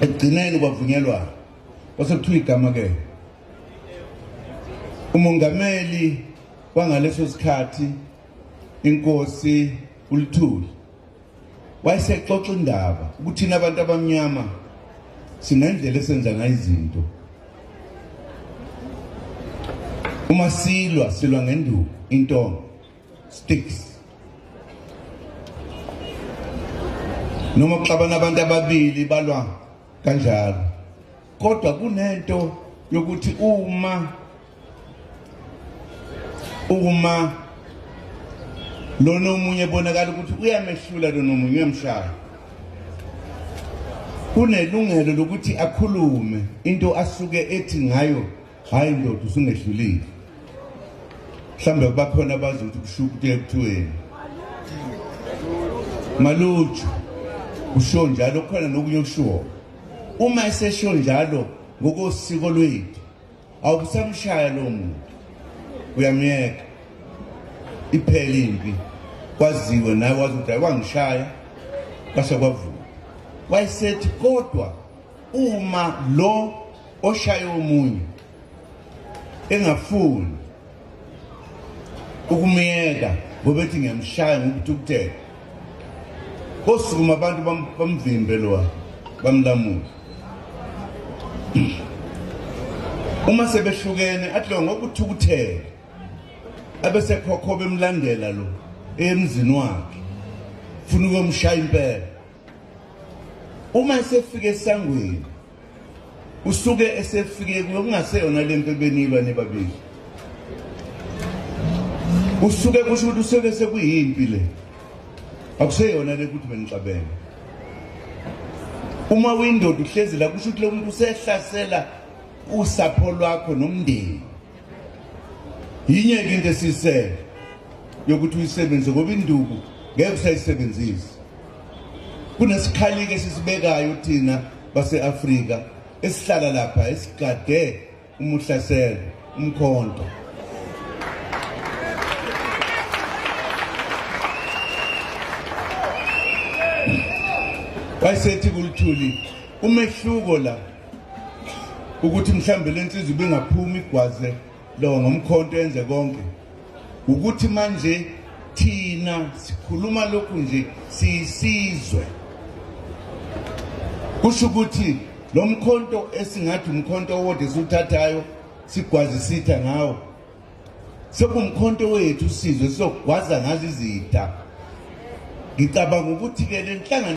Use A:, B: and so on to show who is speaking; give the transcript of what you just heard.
A: ekugcineni kwavunyelwa kwase kuthiwa igama ke umongameli kwangaleso sikhathi inkosi ulithuli wayesexoxa indaba ukuthi thina abantu abamnyama sinendlela esenza ngayo izinto uma silwa silwa ngenduku intonga sticks noma kuxabana abantu ababili balwa kanjalo kodwa kunento yokuthi uma uma lona omunye bonakala ukuthi uyamehlula lona omunye uyamshaya kunelungelo lokuthi akhulume into asuke ethi ngayo hayi ndoda usungehlulile mhlawumbe kubakhona abazi ukuthi kushuka ukuthi ekuthiweni maluju usho njalo kukhona nokunye okushiwo uma esesho njalo ngokosiko lwethu awukusamshaya lo muntu uyamyeka iphele impi kwaziwe naye wazi ukuthi ayiwangishaya kwase kwavuka wayesethi kodwa uma lo oshaye omunye engafuni ukumyeka ngobethi ngiyamshaya ngokuthukuthela kosukuma abantu bamvimbe lowa bamlamula uma sebehlukene athi lo ngokuthukuthela abesekhokho bemlandela lo emzini wakhe funa ukumshaya impela uma esefike esangweni usuke esefike kungaseyona lento ebenilwa nebabili usuke kusho ukuthi usuke sekuyimpi le akuseyona le ukuthi benixabene uma uyindoda uhlezi la kusho ukuthi lo muntu usehlasela usapho lwakho nomndeni yinye ke into esisele yokuthi uyisebenzise ngoba induku ngeke usayisebenzise Kunesikhalike esisibekayo thina base-Afrika esihlala lapha esigade umuhlaselo umkhonto wayesethi kulithuli umehluko la ukuthi mhlawumbe le nsizwa ibingaphumi igwaze lo ngomkhonto enze konke ukuthi manje thina sikhuluma lokhu nje siyisizwe kusho ukuthi lo mkhonto esingathi umkhonto owodwa esiwuthathayo sigwazisitha ngawo sekumkhonto wethu sizwe sizogwaza ngazo izitha ngicabanga ukuthi-ke le nhlangano